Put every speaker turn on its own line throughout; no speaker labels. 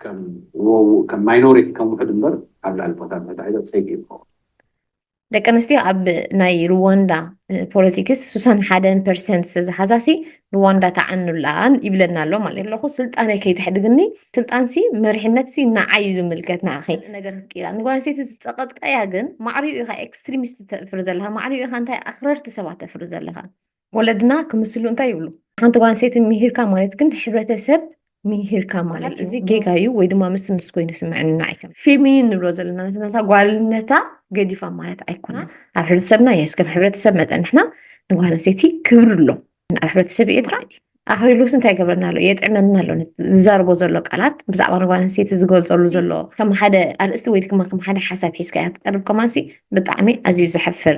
ከም ማይኖሪቲ ከም ውሕድ እምበር ኣብ ልዕሊ ፖታት መታሒዛ
ፀይቂ እዩ ዝኸውን። ደቂ ኣንስትዮ ኣብ ናይ ሩዋንዳ ፖለቲክስ ሱሳን ሓደን ፐርሰንት ስለዝሓዛሲ ሩዋንዳ ተዓኑላን ይብለና ኣሎ ማለት ኣለኹ ስልጣነይ ከይተሕድግኒ ስልጣንሲ መሪሕነትሲ ንዓይ እዩ ዝምልከት ንኣኺ ነገር ክትቅይራ ንጓል ኣንስተይቲ ዝፀቐጥቀያ ግን ማዕሪኡ ኢኻ ኤክስትሪሚስት ተፍሪ ዘለኻ ማዕሪኡ ኢኻ እንታይ ኣኽረርቲ ሰባት ተፍሪ ዘለኻ ወለድና ክምስሉ እንታይ ይብሉ ሓንቲ ጓል ኣንስተይቲ ምሂርካ ማለት ግን ሕብረተሰብ ምሂርካ ማለት እዩ። እዚ ጌጋ እዩ ወይ ድማ ምስ ምስ ኮይኑ ስምዕኒ ንዓይ ከም ፌሚኒን ንብሎ ዘለና ነታ ጓልነታ ገዲፋ ማለት ኣይኮነን። ኣብ ሕብረተሰብና የስ ከም ሕብረተሰብ መጠን ንሕና ንጓል ኣንስተይቲ ክብሪ ኣሎ ኣብ ሕብረተሰብ ኤርትራ እቲ ኣኽሪሉስ እንታይ ገብረና ኣሎ የጥዕመና ኣሎ ነቲ ዝዛረቦ ዘሎ ቃላት ብዛዕባ ንጓል ኣንስተይቲ ዝገልጸሉ ዘሎ ከም ሓደ ኣርእስቲ ወይ ድማ ከም ሓደ ሓሳብ ሒዝካ እያ ትቀርብ ከማንሲ ብጣዕሚ ኣዝዩ ዘሕፍር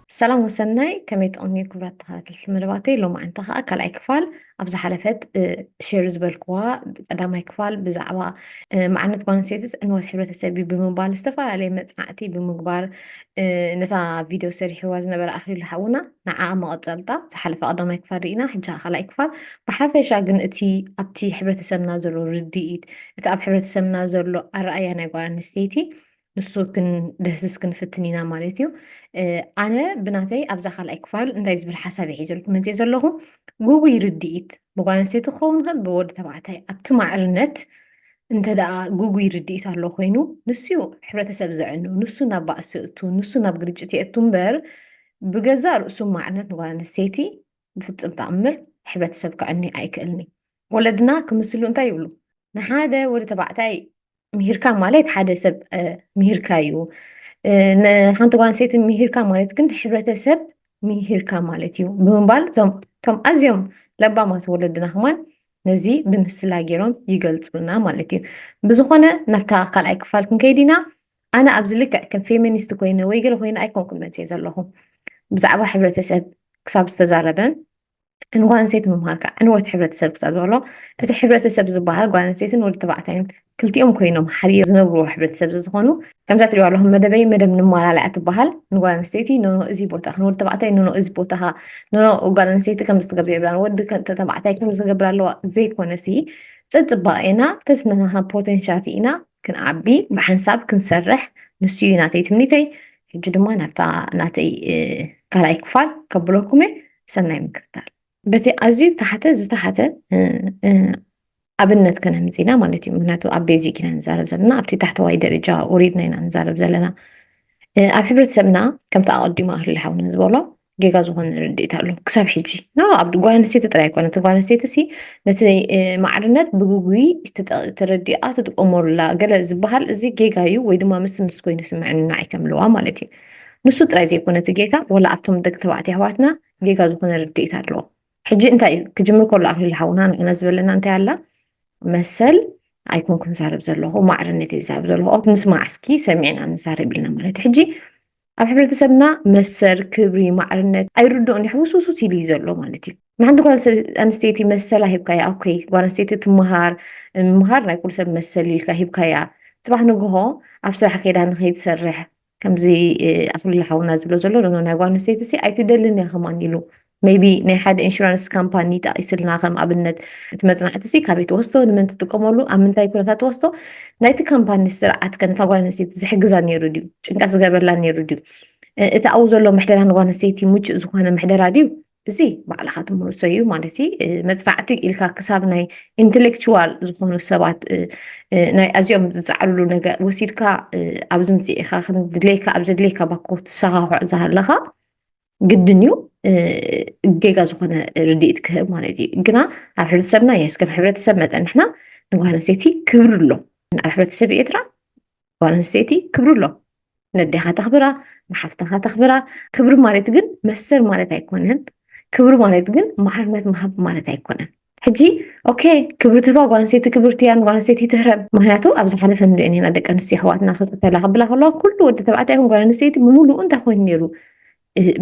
ሰላም ወሰናይ ከመይ ትቕንዩ ክብራት ተኸታተልቲ መደባተይ ሎማዕንቲ ከዓ ካልኣይ ክፋል ኣብ ዝሓለፈት ሼር ዝበልክዋ ቀዳማይ ክፋል ብዛዕባ መዓርነት ጓል ኣንስተይቲስ ዕንወት ሕብረተሰብ እዩ ብምባል ዝተፈላለየ መፅናዕቲ ብምግባር ነታ ቪድዮ ሰሪሕዋ ዝነበረ ኣኽሊሉ ሓውና ንዓ መቐፀልታ ዝሓለፈ ቀዳማይ ክፋል ርኢና ሕጂ ካልኣይ ክፋል ብሓፈሻ ግን እቲ ኣብቲ ሕብረተሰብና ዘሎ ርድኢት እቲ ኣብ ሕብረተሰብና ዘሎ ኣረኣያ ናይ ጓል ኣንስተይቲ ንሱ ክንደህስስ ክንፍትን ኢና ማለት እዩ ኣነ ብናተይ ኣብዛ ካልኣይ ክፋል እንታይ ዝብል ሓሳብ ይሒዘልኩም መፅእ ዘለኹ ጉጉይ ርድኢት ብጓል ኣንስተይቲ ክኸውን ይኽእል ብወዲ ተባዕታይ ኣብቲ ማዕርነት እንተ ደኣ ጉጉይ ርድኢት ኣሎ ኮይኑ ንሱ እዩ ሕብረተሰብ ዘዕኑ ንሱ ናብ ባእሲ እቱ ንሱ ናብ ግርጭት የእቱ እምበር ብገዛእ ርእሱ ማዕርነት ንጓል ኣንስተይቲ ብፍፅም ተኣምር ሕብረተሰብ ክዕኒ ኣይክእልኒ ወለድና ክምስሉ እንታይ ይብሉ ንሓደ ወዲ ተባዕታይ ምሂርካ ማለት ሓደ ሰብ ምሂርካ እዩ ንሓንቲ ጓል ኣንስተይቲ ምሂርካ ማለት ግን ሕብረተሰብ ምሂርካ ማለት እዩ ብምባል እቶም ኣዝዮም ለባማት ወለድና ከማን ነዚ ብምስላ ገይሮም ይገልፁልና ማለት እዩ ብዝኾነ ናብታ ካልኣይ ክፋል ክንከይድ ኢና ኣነ ኣብዚ ልክዕ ከም ፌሚኒስት ኮይነ ወይ ገለ ኮይነ ኣይኮንኩን መፅእ ዘለኹ ብዛዕባ ሕብረተሰብ ክሳብ ዝተዛረበ ንጓንሴት ምምሃር ከዓ ዕንወት ሕብረተሰብ ክሳብ ዝበሎ እቲ ሕብረተሰብ ዝበሃል ጓንሴትን ወዲ ተባዕታይን ክልቲኦም ኮይኖም ሓቢር ዝነብርዎ ሕብረተሰብ ዝዝኾኑ ከምዛ ትሪኦ ኣለኹም መደበይ መደብ ንማላለያ ትበሃል ንጓል ኣንስተይቲ ኖኖ እዚ ቦታኻ ንወዲ ተባዕታይ ኖኖ እዚ ቦታኻ ኖኖ ጓል ኣንስተይቲ ከም ዝትገብር የብላን ወዲ ተባዕታይ ከም ዝገብር ኣለዋ ዘይኮነሲ ፅፅባኤና ተስነናሃ ፖቴንሻል ርኢና ክንዓቢ ብሓንሳብ ክንሰርሕ ንሱ እዩ ናተይ ትምኒተይ ሕጂ ድማ ናብታ ናተይ ካልኣይ ክፋል ከብለኩም እየ ሰናይ ምክትታል በቲ ኣዝዩ ዝተሓተ ዝተሓተ ኣብነት ከነምፅ ኢና ማለት እዩ ምክንያቱ ኣብ ቤዚክ ኢና ንዛረብ ዘለና ኣብቲ ታሕተዋይ ደረጃ ወሪድና ኢና ንዛረብ ዘለና ኣብ ሕብረተሰብና ከምቲ ኣቐዲሙ ኣህሊ ሓውና ዝበሎ ጌጋ ዝኾነ ርድኢት ኣሎ ክሳብ ሕጂ ና ኣብ ጓል ኣንስተይቲ ጥራይ ኣይኮነት ጓል ኣንስተይቲ ሲ ነቲ ማዕርነት ብግጉይ ተረዲኣ ትጥቀመሉላ ገለ ዝበሃል እዚ ጌጋ እዩ ወይ ድማ ምስ ምስ ኮይኑ ስምዕኒ ንዓይ ከምለዋ ማለት እዩ ንሱ ጥራይ ዘይኮነ እቲ ጌጋ ወላ ኣብቶም ደቂ ተባዕትዮ ኣሕዋትና ጌጋ ዝኾነ ርድኢት ኣለዎ ሕጂ እንታይ እዩ ክጅምር ከሎ ኣክሊል ሓውና ንሕና ዝበለና እንታይ ኣላ መሰል ኣይኮንኩን ዛረብ ዘለኹ ማዕርነት እዩ ዛረብ ዘለኹ ንስማዕ እስኪ ሰሚዕና ንዛረብ ኢልና ማለት እዩ ሕጂ ኣብ ሕብረተሰብና መሰል ክብሪ ማዕርነት ኣይርድኦን እዩ ሕውስውስውስ ኢሉ እዩ ዘሎ ማለት እዩ ንሓንቲ ጓል ኣንስተይቲ መሰላ ሂብካያ ኦኬ ጓል ኣንስተይቲ ትምሃር ምምሃር ናይ ኩሉ ሰብ መሰል ኢልካ ሂብካያ ፅባሕ ንግሆ ኣብ ስራሕ ከይዳ ንከይትሰርሕ ከምዚ ኣክሊሉ ሓውና ዝብሎ ዘሎ ናይ ጓል ኣንስተይቲ ሲ ኣይትደልን እያ ከማን ኢሉ ሜይቢ ናይ ሓደ ኢንሹራንስ ካምፓኒ ጠቒስልና ከም ኣብነት እቲ መጽናዕቲሲ ካበይ ትወስዶ ንመን ትጥቀመሉ ኣብ ምንታይ ኩነታት ትወስዶ ናይቲ ካምፓኒ ስርዓት ከ ነታ ጓል ኣንስተይቲ ዝሕግዛ ነይሩ ድዩ ጭንቀት ዝገብረላ ነይሩ ድዩ እቲ ኣብኡ ዘሎ ምሕደራ ንጓል ኣንስተይቲ ምቹእ ዝኾነ ምሕደራ ድዩ እዚ ባዕልኻ ትምህርሶ እዩ ማለት መፅናዕቲ ኢልካ ክሳብ ናይ ኢንቴሌክቹዋል ዝኾኑ ሰባት ናይ ኣዝኦም ዝፃዕርሉ ነገር ወሲድካ ኣብዚ ምፅኢኻ ከምድለይካ ኣብ ዘድለይካ ባኮ ትሰኻኽዖ ዝሃለኻ ግድን እዩ ጌጋ ዝኾነ ርድኢት ክህብ ማለት እዩ ግና ኣብ ሕብረተሰብና የስ ከም ሕብረተሰብ መጠን ንሕና ንጓል ኣንስተይቲ ክብሪ ኣሎ ኣብ ሕብረተሰብ ኤርትራ ጓል ኣንስተይቲ ክብሪ ኣሎ ነዴኻ ተኽብራ ንሓፍትኻ ተኽብራ ክብሪ ማለት ግን መሰል ማለት ኣይኮነን ክብሪ ማለት ግን ማዕርነት ምሃብ ማለት ኣይኮነን ሕጂ ኦኬ ክብሪ ትህባ ጓል ኣንስተይቲ ክብርቲ እያ ንጓል ኣንስተይቲ ትህረም ምክንያቱ ኣብ ዝሓለፈ ንሪኦ ኔና ደቂ ኣንስትዮ ኣሕዋትና ክቅተላ ክብላ ከለዋ ኩሉ ወዲ ተባዕታይ ይኹን ጓል ኣንስተይቲ ብምሉኡ እንታይ ኮይኑ ነይሩ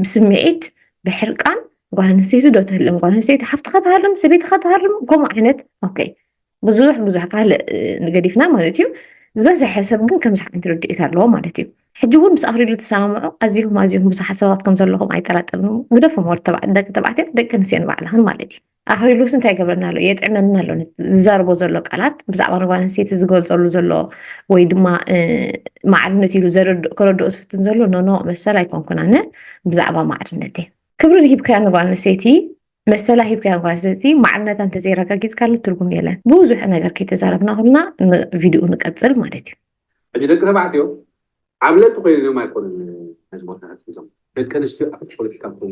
ብስምዒት ብሕርቃን ጓል ኣንስተይቲ ዶ ትህልም ጓል ኣንስተይቲ ሓፍትኻ ትሃርም ሰበይትኻ ትሃርም ከምኡ ዓይነት ኦኬ ብዙሕ ብዙሕ ካልእ ንገዲፍና ማለት እዩ ዝበዝሐ ሰብ ግን ከምዚ ዓይነት ርድኢት ኣለዎ ማለት እዩ ሕጂ እውን ምስ ኣኽሪሉ ተሰማምዑ ኣዚኹም ኣዚኹም ብዙሓት ሰባት ከም ዘለኹም ኣይጠራጠርን ግደፎም ወዲ ደቂ ተባዕትዮ ደቂ ኣንስትዮ ንባዕልኽን ማለት እዩ ኣኽሊሉስ እንታይ ገብረና ኣሎ የጥዕመና ኣሎ ዝዛርቦ ዘሎ ቃላት ብዛዕባ ንጓል ኣንስተይቲ ዝገልፀሉ ዘሎ ወይ ድማ ማዕርነት ኢሉ ከረድኦ ዝፍትን ዘሎ ኖኖ መሰል ኣይኮንኩን ኣነ ብዛዕባ ማዕርነት እየ ክብሪ ሂብካያ ንጓል ኣንስተይቲ መሰላ ሂብካያ ጓል ኣንስተይቲ ማዕርነታ እንተዘይረጋጊፅካሉ ትርጉም የለን ብዙሕ ነገር ከይተዛረብና ኩልና ቪድዮ ንቀፅል ማለት እዩ ሕጂ ደቂ ተባዕትዮ
ዓብለቲ ኮይኖም ኣይኮኑን ነዚ ቦታታት ሒዞም ደቂ ኣንስትዮ ኣብቲ ፖለቲካ ክኾኑ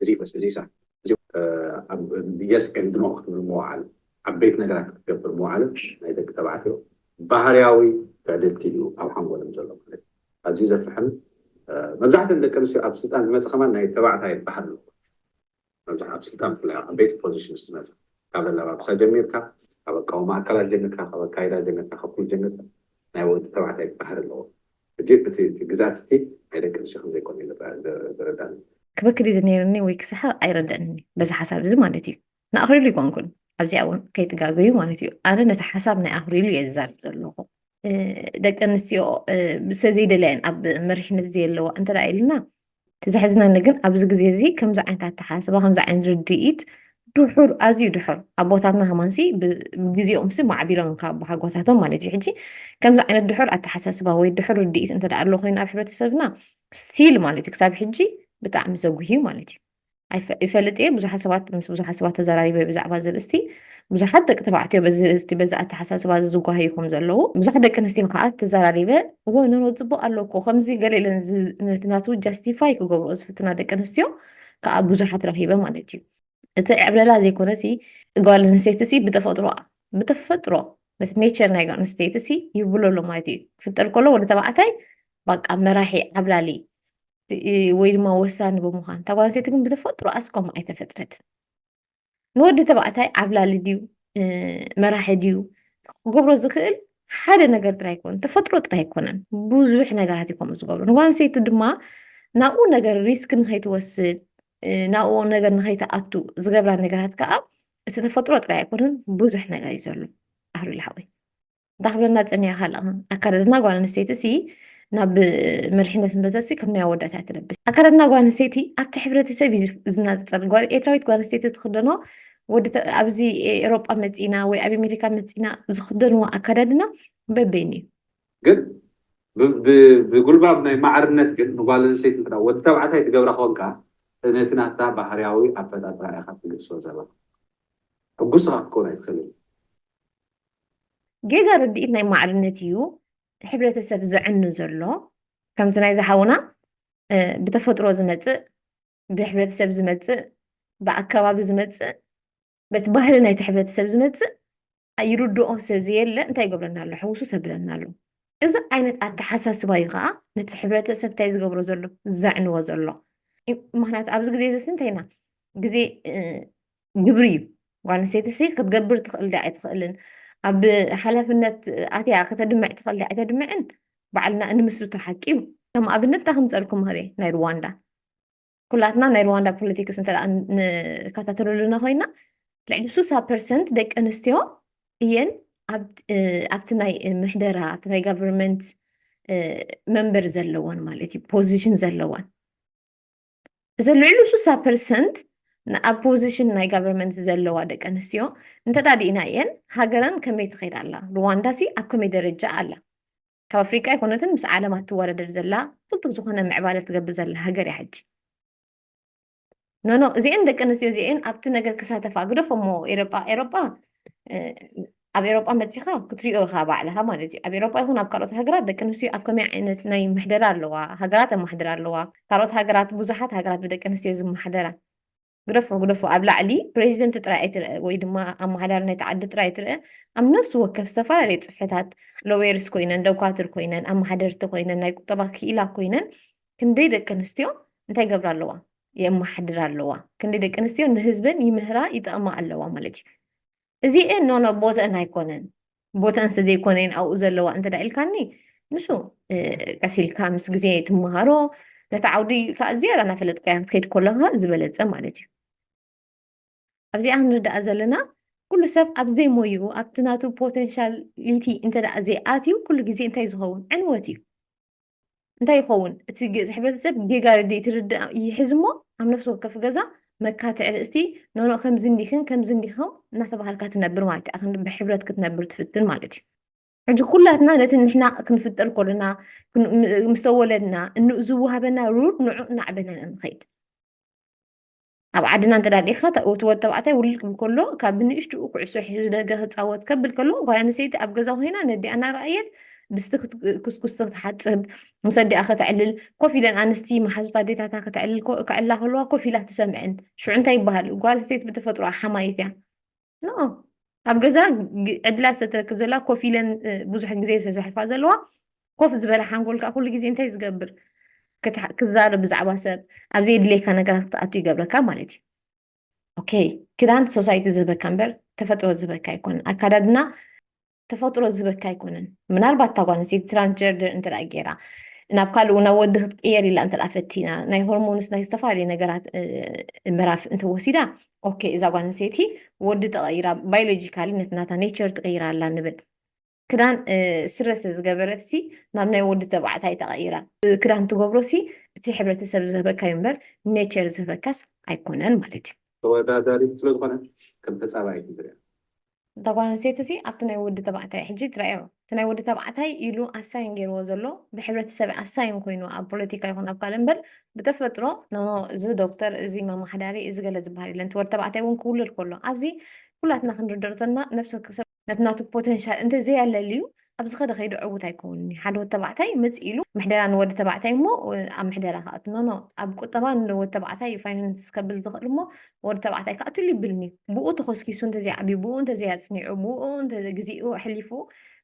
እዚ ይፍረስ እዚ ይስራሕ እዚ ኣብ የስ ኤንድ ኖ ክትብል ምውዓል ዓበይቲ ነገራት ክትገብር ምውዓል ናይ ደቂ ተባዕትዮ ባህርያዊ ትዕድልቲ እዩ ኣብ ሓንጎሎም ዘሎ ማለት እዩ ኣዝዩ ዘፍርሕን መብዛሕትኦም ደቂ ኣንስትዮ ኣብ ስልጣን ዝመጽ ከማን ናይ ተባዕታይ ባህል ኣለዎ መብዛሕትኦም ኣብ ስልጣን ብፍላይ ኣብ ዓበይቲ ፖዚሽንስ ዝመጽ ካብ ኣለባብሳ ጀሚርካ ካብ ኣቃውማ ኣካላት ጀሚርካ ካብ ኣካይዳ ጀሚርካ ካብ ኩሉ ጀሚርካ ናይ ወዲ ተባዕታይ ባህሪ ኣለዎ ሕጂ እቲ እቲ ግዝኣት እቲ ናይ ደቂ ኣንስትዮ ከም ዘይኮነ እዩ ዝረኣ ዝረዳኣኒ። ክበክድ እዩ
ነይርኒ ወይ ክስሓቕ ኣይረደኣንን እዩ በዚ ሓሳብ እዚ ማለት እዩ። ንኣኽሊሉ ኣይኮንኩን ኣብዚኣ ውን ከይትጋገዩ ማለት እዩ ኣነ ነቲ ሓሳብ ናይ ኣኽሊሉ እየ ዝዛረብ ዘለኹ። ደቂ ኣንስትዮ ሰለዘይደልያ እየን ኣብ መሪሕነት ዘየለዋ እንተ ኢልና እቲ ዘሕዝነኒ ግን ኣብዚ ግዜ እዚ ከምዚ ዓይነት ኣተሓሳስባ ከምዚ ዓይነት ርድኢት ድሑር ኣዝዩ ድሑር ኣቦታትና ሃማንሲ ብግዜኦም ሲ ማዕቢሎም ካብ ብሃጎታቶም ማለት እዩ ሕጂ ከምዚ ዓይነት ድሑር ኣተሓሳስባ ወይ ድሑር ርድኢት እንተ ኣሎ ኮይኑ ኣብ ሕብረተሰብና ስቲል ማለት እዩ ክሳብ ሕጂ ብጣዕሚ ዘጉህዩ ማለት እዩ ይፈልጥ እየ ብዙሓት ሰባት ምስ ብዙሓት ሰባት ተዘራሪበ ብዛዕባ እዚ ርእስቲ ብዙሓት ደቂ ተባዕትዮ በዚ ርእስቲ በዚ ኣተሓሳስባ እዚ ዝጓሃዩ ከም ዘለዉ ብዙሓት ደቂ ኣንስትዮ ከዓ ተዘራሪበ እወ ኖኖ ፅቡቅ ኣሎ እኮ ከምዚ ገለ ኢለ ነቲ ናቱ ጃስቲፋይ ክገብርኦ ዝፍትና ደቂ ኣንስትዮ ከዓ ብዙሓት ረኪበ ማለት እዩ እቲ ዕብለላ ዘይኮነ ሲ ጓል ኣንስተይቲ ሲ ብተፈጥሮ ብተፈጥሮ ነቲ ኔቸር ናይ ጓል ኣንስተይቲ ሲ ይብሎ ኣሎ ማለት እዩ ክፍጠር ከሎ ወደ ተባዕታይ ባቃ መራሒ ዓብላሊ ወይ ድማ ወሳኒ ብምዃን እታ ጓል ኣንስተይቲ ግን ብተፈጥሮኣስ ከምኡ ኣይተፈጥረትን ንወዲ ተባዕታይ ዓብላሊ ድዩ መራሒ ድዩ ክገብሮ ዝኽእል ሓደ ነገር ጥራይ ኣይኮነ ተፈጥሮ ጥራይ ኣይኮነን ብዙሕ ነገራት እዩ ከምኡ ዝገብሩ ንጓል ኣንስተይቲ ድማ ናብኡ ነገር ሪስክ ንኸይትወስድ ናብኡ ነገር ንኸይትኣቱ ዝገብራ ነገራት ከዓ እቲ ተፈጥሮ ጥራይ ኣይኮነን ብዙሕ ነገር እዩ ዘሎ ኣህሉ ልሓወይ እንታይ ክብለና ፀኒያ ካልኣ ኣካዳድና ጓል ኣንስተይቲ ሲ ናብ መሪሕነት ንበዘሲ ከም ናይ ኣወዳት እያ ትለብስ ኣካዳድና ጓል ኣንስተይቲ ኣብቲ ሕብረተሰብ እዩ ዝናፅፀር ጓል ኤርትራዊት ጓል ኣንስተይቲ ዝክደኖ ኣብዚ ኤሮጳ መፂና ወይ ኣብ ኣሜሪካ መፂና ዝክደንዎ ኣካዳድና በበይኑ እዩ
ግን ብጉልባብ ናይ ማዕርነት ግን ንጓል ኣንስተይቲ እንተ ወዲ ተባዕታይ ትገብራ ኮንካ ነቲ ናታ ባህርያዊ ኣፈጣጥራ ኢኻ ትግልሶ ዘለኻ ሕጉስ ኢኻ ክትከውን ኣይትኽእልን
ጌጋ ርድኢት ናይ ማዕርነት እዩ ሕብረተሰብ ዘዕኑ ዘሎ ከምቲ ናይ ዝሓውና ብተፈጥሮ ዝመፅእ ብሕብረተሰብ ዝመፅእ ብኣከባቢ ዝመፅእ በቲ ባህሊ ናይቲ ሕብረተሰብ ዝመፅእ ይርድኦ ስለዘየለ እንታይ ይገብረና ኣሎ ሕውሱ ሰብለና ኣሎ እዚ ዓይነት ኣተሓሳስባ እዩ ከዓ ነቲ ሕብረተሰብ እንታይ ዝገብሮ ዘሎ ዘዕንዎ ዘሎ ምክንያቱ ኣብዚ ግዜ እዚ ስንተይና ግዜ ግብሪ እዩ ጓል ኣንስተይቲ ሲ ክትገብር ትኽእል ዲያ ኣይትኽእልን ኣብ ሓላፍነት ኣትያ ከተድምዕ ትኽእል ዲያ ኣይተድምዕን ባዕልና እንምስርቶ ሓቂ እዩ ከም ኣብነት ታ ክምፀልኩም ኽእል ናይ ሩዋንዳ ኩላትና ናይ ሩዋንዳ ፖለቲክስ እንተ ንከታተለሉና ኮይና ልዕሊ ሱሳ ፐርሰንት ደቂ ኣንስትዮ እየን ኣብቲ ናይ ምሕደራ ኣብቲ ናይ ጋቨርንመንት መንበር ዘለወን ማለት እዩ ፖዚሽን ዘለወን እዘን ልዕሊ ሱሳ ፐርሰንት ኣብ ፖዚሽን ናይ ጋቨርንመንት ዘለዋ ደቂ ኣንስትዮ እንተዳዲእና እየን ሃገረን ከመይ ትኸይድ ኣላ ሩዋንዳ ሲ ኣብ ከመይ ደረጃ ኣላ ካብ ኣፍሪቃ ኣይኮነትን ምስ ዓለም ኣትወዳደር ዘላ ቅልጡፍ ዝኾነ ምዕባለ ትገብር ዘላ ሃገር እያ ሕጂ ኖኖ እዚአን ደቂ ኣንስትዮ እዚአን ኣብቲ ነገር ክሳተፋ ግደፎ እሞ ኤሮጳ ኤሮጳ ኣብ ኤሮጳ መጺኻ ክትሪኦ ኢኻ ባዕልኻ ማለት እዩ ኣብ ኤሮጳ ይኹን ኣብ ካልኦት ሃገራት ደቂ ኣንስትዮ ኣብ ከመይ ዓይነት ናይ ምሕደራ ኣለዋ ሃገራት ኣማሕድራ ኣለዋ ካልኦት ሃገራት ብዙሓት ሃገራት ብደቂ ኣንስትዮ ዝመሓደራ ግደፎ ግደፎ ኣብ ላዕሊ ፕሬዚደንት ጥራይ ኣይትርአ ወይ ድማ ኣመሓዳሪ ናይቲ ዓዲ ጥራይ ኣይትርአ ኣብ ነፍሲ ወከፍ ዝተፈላለዩ ፅፍሕታት ሎዌርስ ኮይነን ደኳትር ኮይነን ኣመሓደርቲ ኮይነን ናይ ቁጠባ ክኢላ ኮይነን ክንደይ ደቂ ኣንስትዮ እንታይ ገብራ ኣለዋ የመሓድራ ኣለዋ ክንደይ ደቂ ኣንስትዮ ንህዝበን ይምህራ ይጠቕማ ኣለዋ ማለት እዩ እዚኤን ኖ ኖ ቦተኣን ኣይኮነን ቦተኣን ስለ ዘይኮነ እየን ኣብኡ ዘለዋ እንተ ኢልካኒ ንሱ ቀስ ኢልካ ምስ ግዜ ትመሃሮ ነቲ ዓውዲ ከዓ ዝያዳ እናፈለጥካያ ክትከይድ ከለካ ዝበለፀ ማለት እዩ ኣብዚኣ ክንርዳኣ ዘለና ኩሉ ሰብ ኣብ ዘይሞይኡ ኣብቲ ናቱ ፖቴንሻሊቲ እንተ ዘይኣትዩ ኩሉ ግዜ እንታይ ዝኸውን ዕንወት እዩ እንታይ ይኸውን እቲ ሕብረተሰብ ጌጋ ርድኢት ይርዳእ ይሕዝ እሞ ኣብ ነፍሲ ወከፍ ገዛ መካትዕ ርእስቲ ኖኖ ከምዚ እንዲክን ከምዚ እንዲኸም እናተባሃልካ ትነብር ማለት እዩ ኣክን ብሕብረት ክትነብር ትፍትን ማለት እዩ ሕጂ ኩላትና ነቲ ንሕና ክንፍጠር ኮለና ምስ ተወለድና እንኡ ዝወሃበና ሩር ንዑ እናዕበና ኢና ንኸይድ ኣብ ዓድና እንተ ርኢኻ እቲ ወዲ ተባዕታይ ውልድ ክብል ከሎ ካብ ብንእሽትኡ ኩዕሶ ሒዙ ደገ ክፃወት ከብል ከሎ ጓል ኣንስተይቲ ኣብ ገዛ ኮይና ነዲኣ እናረኣየት ድስቲ ክትኩስኩስ ክትሓፅብ ምስ ኣዲኣ ከተዕልል ኮፍ ኢለን ኣንስቲ መሓዙት ኣዴታታ ከተዕልል ከዕላ ከለዋ ኮፍ ኢላ ትሰምዐን ሽዑ እንታይ ይበሃል ጓል ኣንስተይቲ ብተፈጥሮኣ ሓማይት እያ ኣብ ገዛ ዕድላት ዝተረክብ ዘላ ኮፍ ኢለን ብዙሕ ግዜ ዝተዘሕልፋ ዘለዋ ኮፍ ዝበለ ሓንጎል ከዓ ኩሉ ግዜ እንታይ ዝገብር ክዛረብ ብዛዕባ ሰብ ኣብ ዘየድልየካ ነገራት ክትኣቱ ይገብረካ ማለት እዩ ኦኬ ክዳን ሶሳይቲ ዝህበካ እምበር ተፈጥሮ ዝህበካ ኣይኮነን ኣካዳድና ተፈጥሮ ዝበካ ኣይኮነን ምናልባት እታ ጓል ኣንስተይቲ ትራንስጀርደር እንተ ገይራ ናብ ካልእ እውን ናብ ወዲ ክትቅየር ኢላ እንተ ፈቲና ናይ ሆርሞንስ ናይ ዝተፈላለዩ ነገራት ምዕራፍ እንተወሲዳ ኦኬ እዛ ጓል ኣንስተይቲ ወዲ ተቐይራ ባዮሎጂካሊ ነቲ ናታ ኔቸር ትቕይራ ኣላ ንብል ክዳን ስረ ስለዝገበረት ሲ ናብ ናይ ወዲ ተባዕታይ ተቐይራ ክዳን ትገብሮ ሲ እቲ ሕብረተሰብ ዝህበካ እዩ እምበር ኔቸር ዝህበካስ ኣይኮነን ማለት እዩ ተወዳዳሪት
ስለዝኾነት ከም ተፃባኢት ዝርያ እታ ጓል
ኣንስተይቲ'ሲ ኣብቲ ናይ ወዲ ተባዕታይ ሕጂ ትራእዮ እቲ ናይ ወዲ ተባዕታይ ኢሉ ኣሳይን ጌርዎ ዘሎ ብሕብረተሰብ ኣሳይን ኮይኑ ኣብ ፖለቲካ ይኹን ኣብ ካልእ እምበር ብተፈጥሮ ኖኖ እዚ ዶክተር እዚ መማሓዳሪ እዚ ገለ ዝበሃል የለን እቲ ወዲ ተባዕታይ እውን ክውለድ ከሎ ኣብዚ ኩላትና ክንርደኦ ዘሎና ነብሲ ወከሰብ ነቲ ናቱ ፖተንሻል እንተዘየለልዩ ኣብ ዝኸደ ከይዱ ዕውት ኣይከውንን እዩ ሓደ ወድ ተባዕታይ ምፅ ኢሉ ምሕደራ ንወዲ ተባዕታይ እሞ ኣብ ምሕደራ ክኣቱ ኖኖ ኣብ ቁጠባ ንወድ ተባዕታይ እዩ ፋይናንስ ከብል ዝኽእል እሞ ወዲ ተባዕታይ ክኣትሉ ይብልን እዩ ብኡ ተኸስኪሱ እንተዘይዓብዩ ብኡ እንተዘይኣፅኒዑ ብኡ ግዜኡ ኣሕሊፉ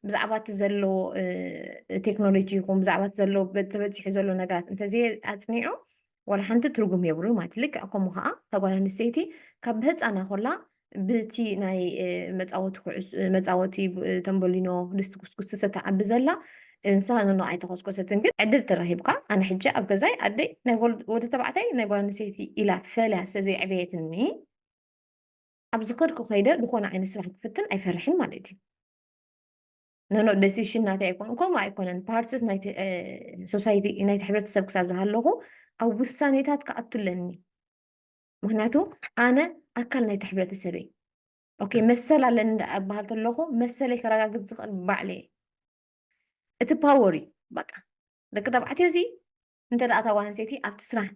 ብዛዕባ እቲ ዘለዎ ቴክኖሎጂ ይኹን ብዛዕባ እቲ ዘለዎ ተበፂሑ ዘሎ ነገራት እንተዘይኣፅኒዑ ዋላ ሓንቲ ትርጉም የብሉን ማለት ልክዕ ከምኡ ከዓ እታ ጓል ኣንስተይቲ ካብ ብህፃና ኮላ ብቲ ናይ መፃወቲ ኩዕስ መፃወቲ ተንበሊኖ ድስቲ ኩስኩስ ትሰተዓቢ ዘላ እንሳ ንኖ ኣይተኮስኮሰትን ግን ዕድል ተረኪብካ ኣነ ሕጂ ኣብ ገዛይ ኣደይ ናይ ወዲ ተባዕታይ ናይ ጓል ኣንስተይቲ ኢላ ፈልያ ስለዘይዕበየትኒ ኣብ ዝከድኩ ከይደ ዝኾነ ዓይነት ስራሕ ክፍትን ኣይፈርሕን ማለት እዩ ኖኖ ደሲሽን ናተይ ኣይኮኑ ከምኡ ኣይኮነን ፓርትስ ናይቲ ሶሳይቲ ናይቲ ሕብረተሰብ ክሳብ ዝሃለኹ ኣብ ውሳኔታት ክኣቱ ኣለኒ ምክንያቱ ኣነ ኣካል ናይቲ ሕብረተሰብ እየ ኦኬ መሰል ኣለኒ እንዳ እበሃል ተለኹ መሰለይ ከረጋግፅ ዝኽእል ባዕለ እየ እቲ ፓወር እዩ በቃ ደቂ ተባዕትዮ እዚ እንተ ደኣ እታ ጓል ኣንስተይቲ ኣብቲ ስራሕ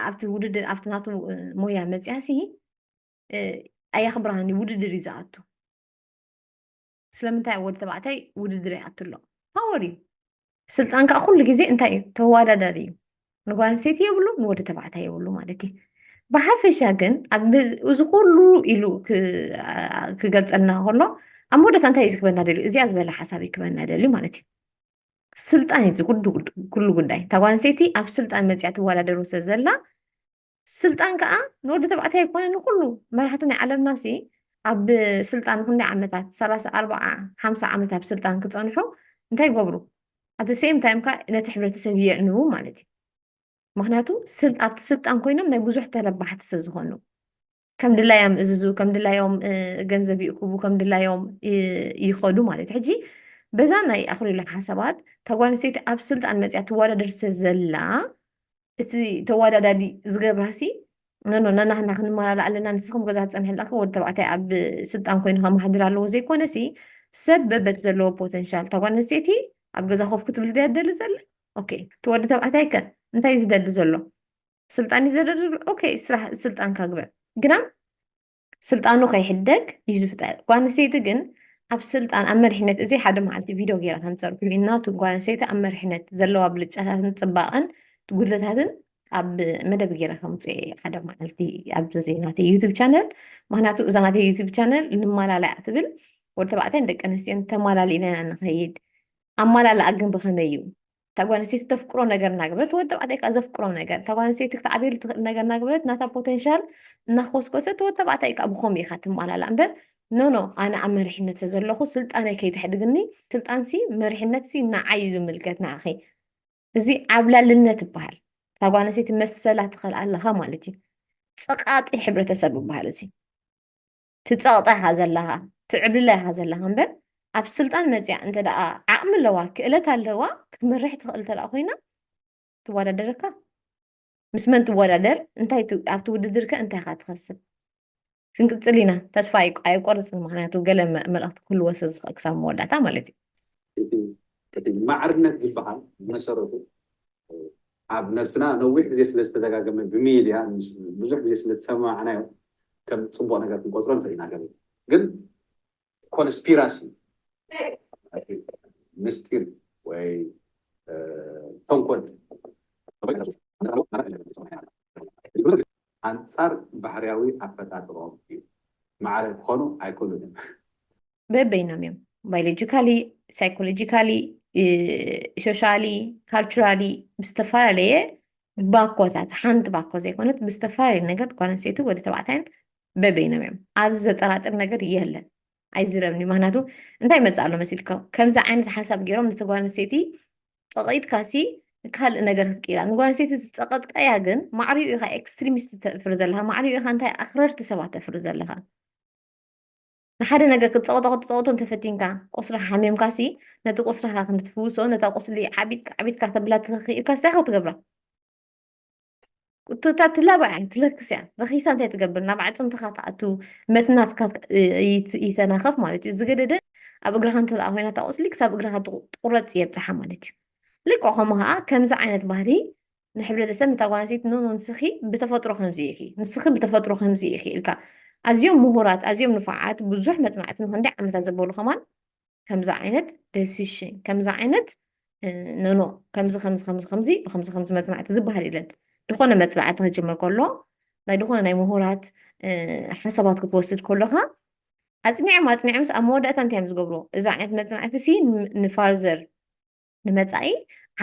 ኣብቲ ውድድር ኣብቲ ናቱ ሞያ መፅያ ሲ ኣየኽብራን ውድድር እዩ ዝኣቱ ስለምንታይ ወዲ ተባዕታይ ውድድር ይኣቱ ኣሎ ፓወር እዩ ስልጣን ከዓ ኩሉ ግዜ እንታይ እዩ ተወዳዳሪ እዩ ንጓል ኣንስተይቲ የብሉ ንወዲ ተባዕታይ የብሉ ማለት እዩ ብሓፈሻ ግን እዚ ኩሉ ኢሉ ክገልፀልና ከሎ ኣብ መወዳእታ እንታይ እዩ ክበና ደልዩ እዚኣ ዝበለ ሓሳብ እዩ ክበና ደልዩ ማለት እዩ ስልጣን እዩ ኩሉ ጉዳይ እታ ጓል ኣንስተይቲ ኣብ ስልጣን መፅያ ትወዳደሩ ስለዘላ ስልጣን ከኣ ንወዲ ተባዕታይ ኣይኮነ ንኩሉ መራሕቲ ናይ ዓለምና ሲ ኣብ ስልጣን ክንደይ ዓመታት ሰላሳ ኣርባዓ ሓምሳ ዓመት ኣብ ስልጣን ክፀንሑ እንታይ ይገብሩ ኣቲ ሴም ታይም ከ ነቲ ሕብረተሰብ የዕንቡ ማለት እዩ ምክንያቱ ኣብቲ ስልጣን ኮይኖም ናይ ብዙሕ ተረባሕቲ ስለዝኮኑ ከም ድላዮም እዝዙ ከም ድላዮም ገንዘብ ይእክቡ ከም ድላዮም ይኸዱ ማለት እዩ ሕጂ በዛ ናይ ኣኽሪሉ ሓሳባት ተጓል ኣንስተይቲ ኣብ ስልጣን መፅያ ትወዳደር ዘላ እቲ ተወዳዳዲ ዝገብራሲ ነኖ ነናህና ክንመላላ ኣለና ንስኹም ገዛ ትፀንሐላ ወዲ ተባዕታይ ኣብ ስልጣን ኮይኑ ከመሓድር ኣለዎ ዘይኮነሲ ሰብ በበት ዘለዎ ፖተንሻል ተጓል ኣንስተይቲ ኣብ ገዛ ኮፍ ክትብል ድያ ትደሊ ዘላ ኦኬ እቲ ወዲ ተባዕታይ ከ እንታይ እዩ ዝደሊ ዘሎ ስልጣን እዩ ዘደልድሉ ኦኬይ ስራሕ ስልጣንካ ግበር ግና ስልጣኑ ከይሕደግ እዩ ዝፍጠር ጓል ኣንስተይቲ ግን ኣብ ስልጣን ኣብ መሪሕነት እዚ ሓደ መዓልቲ ቪድዮ ገይረ ከምፀርኩ እናቱ ጓል ኣንስተይቲ ኣብ መሪሕነት ዘለዋ ብልጫታትን ፅባቐን ጉድለታትን ኣብ መደብ ገይረ ከምፅ ሓደ መዓልቲ ኣብዚ ናተ ዩቱብ ቻነል ምክንያቱ እዛ ናተ ዩቱብ ቻነል ንማላላያ ትብል ወዲ ተባዕትዮን ደቂ ኣንስትዮን ተማላሊእና ኢና ንኸይድ ኣማላላኣ ግን ብኸመይ እዩ እታ ጓል ኣንስተይቲ ተፍቅሮ ነገር እናገበረት ወዲ ተባዕታይ ከዓ ዘፍቅሮ ነገር እታ ጓል ኣንስተይቲ ክትዓብየሉ ትኽእል ነገር እናገበረት ናታ ፖቴንሻል እናኾስኮሰት ወዲ ተባዕታይ ከዓ ብከምኡ ኢኻ ትማላላእ እምበር ኖኖ ኣነ ኣብ መሪሕነት ስለዘለኹ ስልጣነይ ከይተሕድግኒ ስልጣንሲ መሪሕነትሲ ንዓይ እዩ ዝምልከት ንኣኺ እዚ ዓብላልነት ይበሃል እታ ጓል ኣንስተይቲ መሰላ ትኽእል ኣለኻ ማለት እዩ ፀቃጢ ሕብረተሰብ ይበሃል እዚ ትጸቕጠ ኢኻ ዘለኻ ትዕብልለ ኢኻ ዘለኻ እምበር ኣብ ስልጣን መጽያ እንተ ደኣ ዓቕሚ ኣለዋ ክእለት ኣለዋ ክትመርሕ ትኽእል እንተ ደኣ ኮይና ትወዳደረካ ምስ መን ትወዳደር እንታይ ኣብቲ ውድድር ከ እንታይ ኢኻ ትኸስብ ክንቅፅል ኢና ተስፋ ኣይቆርፅን ምክንያቱ ገለ መልእክቲ ክህልዎ ስለዝኽእል ክሳብ መወዳእታ ማለት እዩ
ማዕርነት ዝበሃል መሰረቱ ኣብ ነብስና ነዊሕ ግዜ ስለ ዝተደጋገመ ብሚድያ ብዙሕ ግዜ ስለ ዝሰማማዕናዮ ከም ጽቡቕ ነገር ክንቆጽሮ ንኽእል ኢና ገለ ግን ኮንስፒራሲ ምስጢር ወይ ተንኮል ኣንጻር ባህርያዊ ኣፈጣጥርኦም እዩ ማዕረ ክኾኑ ኣይክእሉን እዮም
በበይኖም እዮም ባዮሎጂካሊ ሳይኮሎጂካሊ ሶሻሊ ካልቸራሊ ብዝተፈላለየ ባኮታት ሓንቲ ባኮ ዘይኮነት ብዝተፈላለየ ነገር ጓል ኣንስተይቲ ወዲ ተባዕታይን በበይኖም እዮም ኣብዚ ዘጠራጥር ነገር የለን ኣይዝረብኒ ምክንያቱ እንታይ መፅእ ኣሎ መሲልካ ከምዚ ዓይነት ሓሳብ ገይሮም ነቲ ጓል ኣንስተይቲ ፀቂጥካሲ ካልእ ነገር ክትቅይራ ንጓል ኣንስተይቲ ዝፀቀጥቃያ ግን ማዕሪኡ ኢካ ኤክስትሪሚስት ተፍሪ ዘለካ ማዕሪኡ ኢካ እንታይ ኣክረርቲ ሰባት ተፍሪ ዘለካ ንሓደ ነገር ክትጸቕጦ ክትጸቕጦ እንተፈቲንካ ቁስራ ሓሚምካሲ ነቲ ቁስራኻ ክንትፍውሶ ነታ ቁስሊ ዓቢጥካ ዓቢጥካ ተብላ ተኸኺኢልካ ስታይ ክትገብራ እታ ትላባ እያ ትለክስ እያ ረኺሳ እንታይ ትገብር ናብ ኣዕፅምትኻ ትኣቱ መትናትካ ይተናኸፍ ማለት እዩ ዝገደደ ኣብ እግራኻ እንተኣ ኮይና እታ ቁስሊ ክሳብ እግራኻ ትቁረፅ የብፅሓ ማለት እዩ ልክዕ ከምኡ ከዓ ከምዚ ዓይነት ባህሪ ንሕብረተሰብ ንታ ጓል ኣንስተይቲ ኖኖ ንስኺ ብተፈጥሮ ከምዚ ኢኺ ንስኺ ብተፈጥሮ ከምዚ ኢኺ ኢልካ ኣዝዮም ምሁራት ኣዝዮም ንፉዓት ብዙሕ መጽናዕቲ ንክንደይ ዓመታት ዘበሉ ከማን ከምዚ ዓይነት ደሲሽን ከምዚ ዓይነት ኖኖ ከምዚ ከምዚ ከምዚ ከምዚ ብከምዚ ከምዚ መጽናዕቲ ዝበሃል የለን ዝኾነ መጽናዕቲ ክጅምር ከሎ ናይ ዝኾነ ናይ ምሁራት ሓሳባት ክትወስድ ከሎኻ ኣጽኒዖም ኣጽኒዖምስ ኣብ መወዳእታ እንታይ እዮም ዝገብርዎ እዚ ዓይነት መጽናዕቲ ሲ ንፋርዘር ንመፃኢ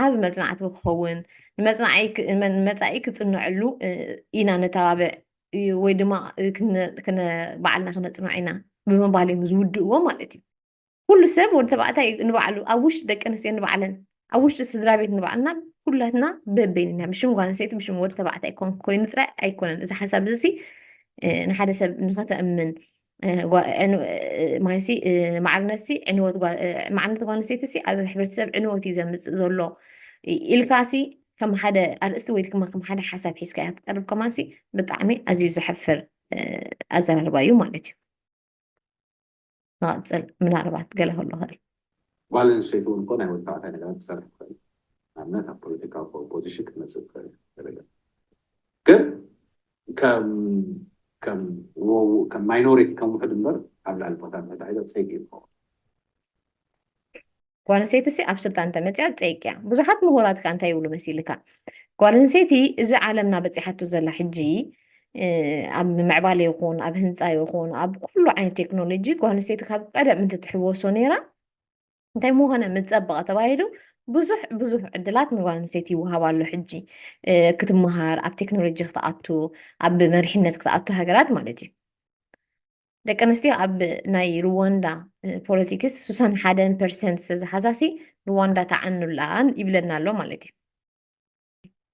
ዓቢ መፅናዕቲ ክኸውን ንመፃኢ ክፅነዐሉ ኢና ነተባብዕ ወይ ድማ ባዕልና ክነፅንዖ ኢና ብምባል እዮም ዝውድእዎ ማለት እዩ ኩሉ ሰብ ወዲ ተባዕታይ ንባዕሉ ኣብ ውሽጢ ደቂ ኣንስትዮ ንባዕለን ኣብ ውሽጢ ስድራ ቤት ንባዕልና ኩላትና በበይንና ብሽም ጓል ኣንስተይቲ ብሽም ወዲ ተባዕታይ ኮይኑ ጥራይ ኣይኮነን እዚ ሓሳብ እዚ ንሓደ ሰብ ንኸተእምን ማይሲ ማዕርነትሲ ዕንወት ማዕርነት ጓል ኣንስተይቲሲ ኣብ ሕብረተሰብ ዕንወት እዩ ዘምፅእ ዘሎ ኢልካሲ ከም ሓደ ኣርእስቲ ወይ ድማ ከም ሓደ ሓሳብ ሒዝካ እያ ትቀርብ ከማንሲ ብጣዕሚ ኣዝዩ ዘሕፍር ኣዘራርባ እዩ ማለት እዩ ንቐፅል ምናልባት ገለ ከሎ ኽእል ጓል ኣንስተይቲ
እውን እኮ ናይ ወዲ ተባዕታይ ነገራት ክትሰርሕ ትኽእል እያ። ንኣብነት ኣብ ፖለቲካዊ ፖዚሽን ክትመፅእ ትኽእል እያ ገለ ገለ ግን ከም ማይኖሪቲ ከም ውሕድ እምበር ኣብ ልዕሊ ቦታ ትሕቲ ዓይዛ ፀይቂ እዩ ዝኸውን።
ጓል ኣንስተይቲሲ ኣብ ስልጣን እንተመፅያ ፀይቂ እያ። ብዙሓት ምሁራት ከዓ እንታይ ይብሉ መሲልካ ጓል ኣንስተይቲ እዚ ዓለምና በፂሓቶ ዘላ ሕጂ ኣብ ምዕባለ ይኹን ኣብ ህንፃ ይኹን ኣብ ኩሉ ዓይነት ቴክኖሎጂ ጓል ኣንስተይቲ ካብ ቀደም እንትትሕወሶ ነይራ እንታይ ምኾነ ምፀበቐ ተባሂሉ ብዙሕ ብዙሕ ዕድላት ንጓል ኣንስተይቲ ይወሃብ ኣሎ ሕጂ ክትመሃር ኣብ ቴክኖሎጂ ክትኣቱ ኣብ መሪሕነት ክትኣቱ ሃገራት ማለት እዩ ደቂ ኣንስትዮ ኣብ ናይ ሩዋንዳ ፖለቲክስ ሱሳን ሓደን ፐርሰንት ዝተዝሓዛሲ ሩዋንዳ ተዓኑላን ይብለና ኣሎ ማለት እዩ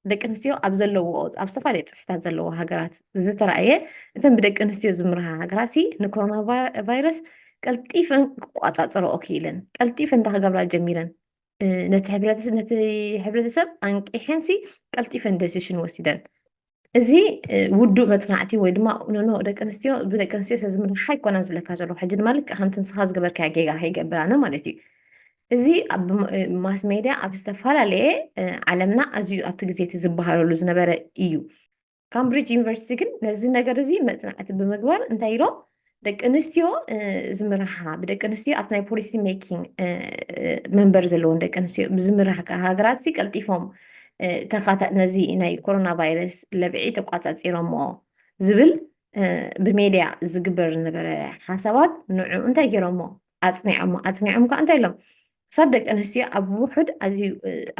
ደቂ ኣንስትዮ ኣብ ዘለዎ ኣብ ዝተፈላለዩ ፅፍታት ዘለዎ ሃገራት ዝተረኣየ እተን ብደቂ ኣንስትዮ ዝምርሃ ሃገራት ንኮሮና ቫይረስ ቀልጢፈን ክቋፃፀረኦ ክኢለን ቀልጢፈን እንታይ ክገብራ ጀሚረን ነቲ ሕብረተሰብ ኣንቂሐን ሲ ቀልጢፈን ደሲሽን ወሲደን እዚ ውዱእ መጽናዕቲ ወይ ድማ ኖኖ ደቂ ኣንስትዮ ብደቂ ኣንስትዮ ሰብ ዝምራሕ ኣይኮነን ዝብለካ ዘለኹ ሕጂ ድማ ልክዕ ከምቲ ንስኻ ዝገበርካዮ ጌጋ ከይገብር ኣነ ማለት እዩ እዚ ኣብ ማስ ሜድያ ኣብ ዝተፈላለየ ዓለምና ኣዝዩ ኣብቲ ግዜ እቲ ዝበሃለሉ ዝነበረ እዩ ካምብሪጅ ዩኒቨርሲቲ ግን ነዚ ነገር እዚ መጽናዕቲ ብምግባር እንታይ ኢሎም ደቂ ኣንስትዮ ዝምርሓ ብደቂ ኣንስትዮ ኣብቲ ናይ ፖሊሲ ሜኪንግ መንበር ዘለዎን ደቂ ኣንስትዮ ብዝምርሓ ሃገራት ሲ ቀልጢፎም ነዚ ናይ ኮሮና ቫይረስ ለብዒ ተቋፃፂሮሞ ዝብል ብሜድያ ዝግበር ዝነበረ ሓሳባት ንዑ እንታይ ገይሮሞ ኣፅኒዖሞ ኣፅኒዖም ከዓ እንታይ ኢሎም ክሳብ ደቂ ኣንስትዮ ኣብ ውሑድ ኣዝዩ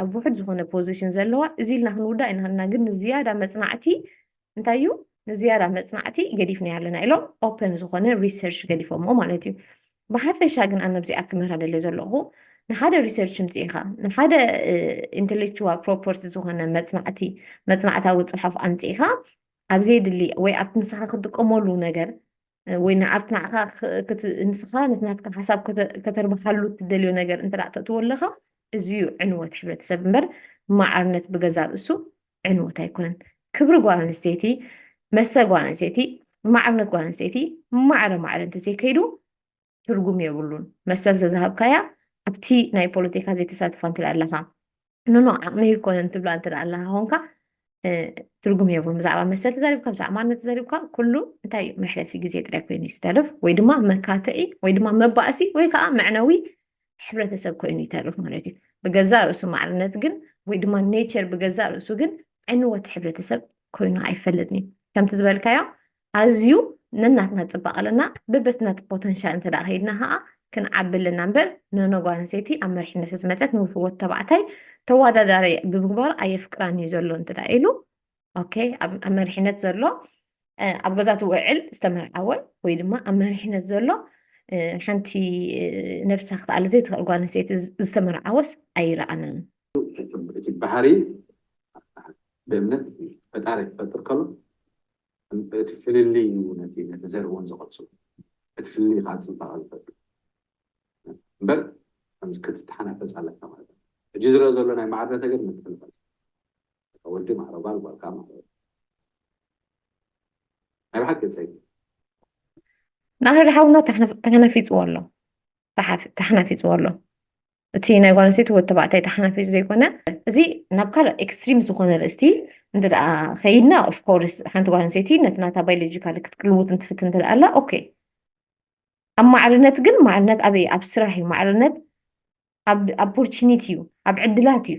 ኣብ ውሑድ ዝኾነ ፖዚሽን ዘለዋ እዚ ኢልና ክንውዳእ ኢና ግን ዝያዳ መፅናዕቲ እንታይ እዩ ንዝያዳ መፅናዕቲ ገዲፍና ኣለና ኢሎም ኦፕን ዝኾነ ሪሰርች ገዲፎሞ ማለት እዩ ብሓፈሻ ግን ኣነ ኣብዚኣ ክምህራ ደልዮ ዘለኹ ንሓደ ሪሰርች ምፅኢኻ ንሓደ ኢንቴሌክቹዋል ፕሮፐርቲ ዝኾነ መፅናዕቲ መፅናዕታዊ ፅሑፍ ኣምፅኢኻ ኣብ ዘየድሊ ወይ ኣብቲ ንስኻ ክጥቀመሉ ነገር ወይ ንዓት ንዓኻ ንስኻ ነቲ ናትካ ሓሳብ ከተርብሓሉ እትደልዮ ነገር እንተ ተእትዎ ኣለኻ እዚ እዩ ዕንወት ሕብረተሰብ እምበር ማዕርነት ብገዛ ርእሱ ዕንወት ኣይኮነን ክብሪ ጓል ኣንስተይቲ መሰ ጓል ኣንስተይቲ ማዕርነት ጓል ኣንስተይቲ ማዕረ ማዕረ እንተዘይከይዱ ትርጉም የብሉን መሰል ተዝሃብካያ ኣብቲ ናይ ፖለቲካ ዘይተሳትፋ እንተ ኣለካ ንኖ ዓቕሚ ይኮነን ትብላ እንተ ኣለካ ኮንካ ትርጉም የብሉን ብዛዕባ መሰል ተዛሪብካ ብዛዕባ ማነት ተዛሪብካ ኩሉ እንታይ እዩ መሕለፊ ግዜ ጥራይ ኮይኑ ይስተርፍ ወይ ድማ መካትዒ ወይ ድማ መባእሲ ወይ ከዓ መዕነዊ ሕብረተሰብ ኮይኑ ይተርፍ ማለት እዩ ብገዛ ርእሱ ማዕርነት ግን ወይ ድማ ኔቸር ብገዛ ርእሱ ግን ዕንወት ሕብረተሰብ ኮይኑ ኣይፈልጥን እዩ ከምቲ ዝበልካዮ ኣዝዩ ነናትና ፅባቀ ኣለና በበትናት ፖተንሻል እንተ ከይድና ከዓ ክንዓቢ ኣለና እምበር ኖኖ ጓል ኣንስተይቲ ኣብ መሪሕነት ዝመፀት ንወድ ተባዕታይ ተወዳዳሪ ብምግባሩ ኣየፍቅራን እዩ ዘሎ እንተ ኢሉ ኦኬ ኣብ መሪሕነት ዘሎ ኣብ ገዛት ውዕል ዝተመርዓወ ወይ ድማ ኣብ መሪሕነት ዘሎ ሓንቲ ነብሳ ክትኣለ ዘይትኽእል ጓል ኣንስተይቲ ዝተመርዓወስ ኣይረኣናን እቲ
ባህሪ ብእምነት ፈጣሪ ክፈጥር ከሎ እቲ ፍልልይ እዩ ነቲ ነቲ ዘርእውን ዘቐጽሉ እቲ ፍልልይ ከኣ ጽባቐ ዝፈጥር እምበር ከምዚ ክትተሓናፈጽ ኣለካ ማለት ኣይኮነን ሕጂ ዝረኣ ዘሎ ናይ ማዕረ ነገር ምትሕንፋጽ ወዲ ማዕረ ጓል ጓል ከኣ ማዕረ ናይ ብሓቂ ጸይቂ ናህሪ
ሓውና ተሓናፊጽዎ ኣሎ ተሓናፊጽዎ ኣሎ እቲ ናይ ጓል ኣንስተይቲ ወዲ ተባዕታይ ተሓናፊ ዘይኮነ እዚ ናብ ካልእ ኤክስትሪም ዝኾነ ርእስቲ እንተ ከይድና ኦፍኮርስ ሓንቲ ጓል ኣንስተይቲ ነቲ ናታ ባዮሎጂካሊ ክትቅልውጥ እንትፍትን እንተ ኣላ ኦኬ ኣብ ማዕርነት ግን ማዕርነት ኣበይ ኣብ ስራሕ እዩ ማዕርነት ኣብ ኦፖርቹኒቲ እዩ ኣብ ዕድላት እዩ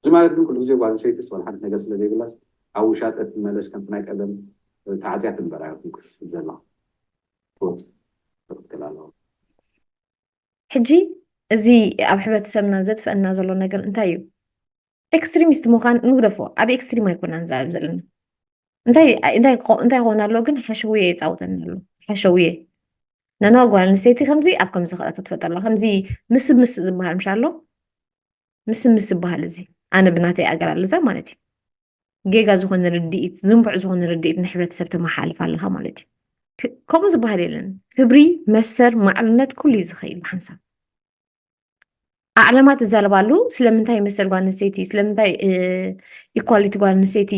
እዚ ማለት ግን ኩሉ ግዜ ጓል ኣንስተይቲ ዝኾነ ሓንቲ ነገር ስለ ዘይብላስ ኣብ ውሻጠ ትመለስ ከምቲ ናይ ቀደም ተዓጽያ ትንበር ኣይኮንኩስ ዘላ ትወጽእ ትቕትል ኣለዋ።
ሕጂ እዚ ኣብ ሕብረተሰብና ዘጥፍኣና ዘሎ ነገር እንታይ እዩ? ኤክስትሪሚስት ምዃን ንግደፎ ኣብ ኤክስትሪም ኣይኮና ንዛረብ ዘለና እንታይ ኮን ኣሎ ግን ሓሸውየ የፃውተኒ ኣሎ ሓሸውየ ነና ጓል ኣንስተይቲ ከምዚ ኣብ ከምዚ ክኣ ክትፈጠላ ከምዚ ምስብ ምስ ዝበሃል ምሻ ኣሎ ምስብ ምስ ዝበሃል እዚ ኣነ ብናተይ ኣገር ኣለዛ ማለት እዩ ጌጋ ዝኾነ ርድኢት ዝንቡዕ ዝኾነ ርድኢት ንሕብረተሰብ ተመሓልፍ ኣለካ ማለት እዩ ከምኡ ዝበሃል የለን ክብሪ መሰር ማዕርነት ኩሉ እዩ ዝኸይል ብሓንሳብ ኣዕላማ ትዛረባሉ ስለምንታይ መሰል ጓል ኣንስተይቲ ስለምንታይ ኢኳሊቲ ጓል ኣንስተይቲ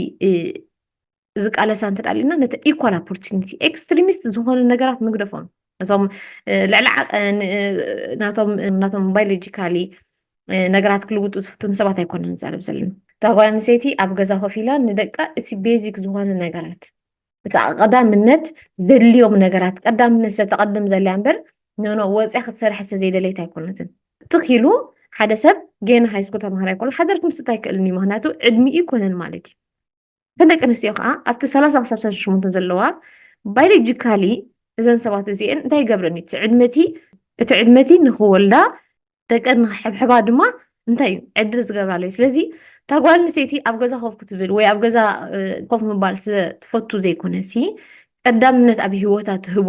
ዝቃለሳ እንተ ኣለና ነቲ ኢኳል ኦፖርቹኒቲ ኤክስትሪሚስት ዝኾኑ ነገራት ምግደፎም ነቶም ልዕሊ ናቶም ናቶም ባዮሎጂካሊ ነገራት ክልውጡ ዝፍትኑ ሰባት ኣይኮነ ንዛረብ ዘለና እታ ጓል ኣንስተይቲ ኣብ ገዛ ኮፍ ኢላ ንደቃ እቲ ቤዚክ ዝኾነ ነገራት ቀዳምነት ዘድልዮም ነገራት ቀዳምነት ዝተቐድም ዘልያ እምበር ኖኖ ወፅያ ክትሰርሐ ዝተዘይደለየት ኣይኮነትን ትኽ ኢሉ ሓደ ሰብ ጌና ሃይስኩል ተምሃራ ይኮሉ ሓደር ክምስጥ ኣይክእልን እዩ ምክንያቱ ዕድሚ ይኮነን ማለት እዩ ከደቂ ኣንስትዮ ከዓ ኣብቲ ሰላሳ ክሳብ ሰላሳ ሸሞንተ ዘለዋ ባዮሎጂካሊ እዘን ሰባት እዚአን እንታይ ይገብረን እዩ እቲ ዕድመቲ እቲ ዕድመቲ ንክወልዳ ደቀን ንክሕብሕባ ድማ እንታይ እዩ ዕድል ዝገብራሉ እዩ ስለዚ እታ ጓል ኣንስተይቲ ኣብ ገዛ ኮፍ ክትብል ወይ ኣብ ገዛ ኮፍ ምባል ስለትፈቱ ዘይኮነ ሲ ቀዳምነት ኣብ ሂወታ ትህቦ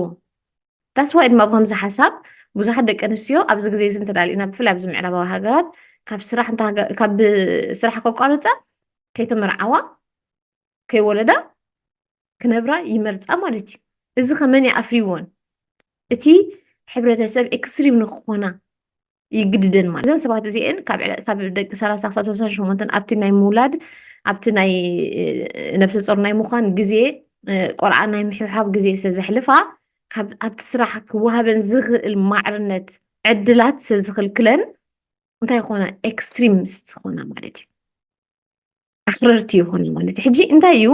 ታስዋይ ድማ ብከምዚ ሓሳብ ብዙሓት ደቂ ኣንስትዮ ኣብዚ ግዜ እዚ እንተዳሊእና ብፍላይ ኣብዚ ምዕራባዊ ሃገራት ካብ ስራሕ ካብ ስራሕ ከቋርፃ ከይተመርዓዋ ከይወለዳ ክነብራ ይመርፃ ማለት እዩ እዚ ከመን ይኣፍሪዎን እቲ ሕብረተሰብ ኤክስትሪም ንክኾና ይግድደን ማለት እዘን ሰባት እዚአን ካብ ደቂ ሰላሳ ክሳብ ሰላሳ ሸሞንተን ኣብቲ ናይ ምውላድ ኣብቲ ናይ ነብሰ ፆር ናይ ምዃን ግዜ ቆልዓ ናይ ምሕብሓብ ግዜ ስለዘሕልፋ ኣብቲ ስራሕ ክወሃበን ዝኽእል ማዕርነት ዕድላት ስለዝኽልክለን እንታይ ይኾና ኤክስትሪምስት ዝኾና ማለት እዩ ኣኽረርቲ ይኾኑ ማለት እዩ ሕጂ እንታይ እዩ